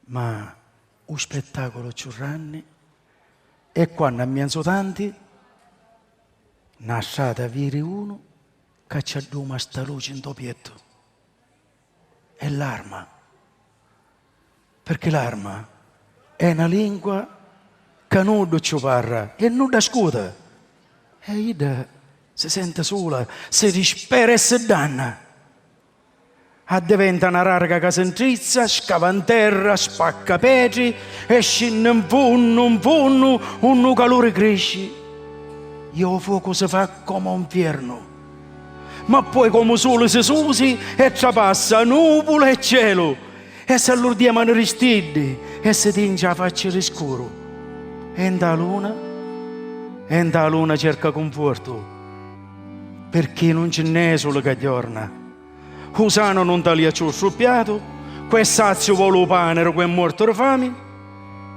Ma u spettaculu cchiù ranni è quannu a mienzu tanti na strata viri unu ca ci adduma sta luci ntô piettu e l'arma, pirchì l'arma è na lingua ca nuddu cci u parra e nuddu ascuta e idda si senti sula, si dispera e si danna. Addiventa na rarga ca si ntrizza, scava 'n terra, spacca petri e scinni 'n funnu, 'n funnu, unni 'u caluri crici e 'u focu si fa comu 'u 'nfiernu. Ma poi comu 'u suli si susi e trapassa nuvula e celu e s'allurdia manu ri stiddi e si tinci 'a facci ri scuru e nta 'a luna e nta 'a luna cerca cunfortu. Pirchì nun ci nn'è suli ca jorna. U sanu nun talia cciù stu piatu, cu è saziu voli u pani ri cu è muortu ri fami,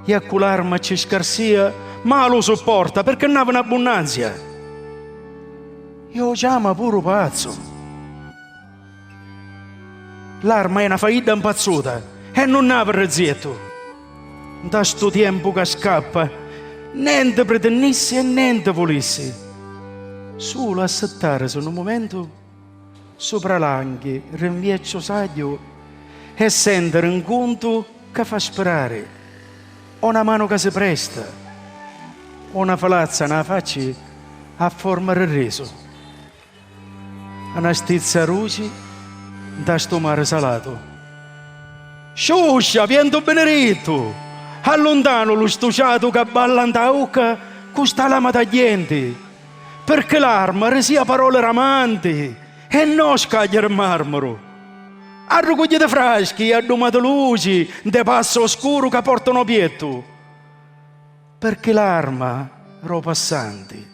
i a cu l'arma cci scarsia malu u supporta, pirchì nn'avi n'abbunnanzia. I o ciama puru pazzu. L'arma è na faidda mpazzuta e nun n'havi rrezziettu. Nta stu tiempu ca scappa, nenti pritinnissi e nenti vulissi, sulu assittarisi nu mumentu supra l'anghi ri 'n viecchiu sagghiu e sentiri 'n cuntu ca fa spirari, o na manu ca si presta, o na filazza nâ facci a forma ri risu. A na stizza rusi 'nta stu mari salatu. Sciuscia, vientu binirittu! A luntanu lu stuciatu ca balla 'nta ucca cu sta lama tagghienti. Pirchì l'arma risìa paroli ramanti e no scaglia di marmuru. Arrucugghitu fraschi e addumatu luci 'nte passi oscuru ca portanu o piettu. Pirchì l'arma ro passanti.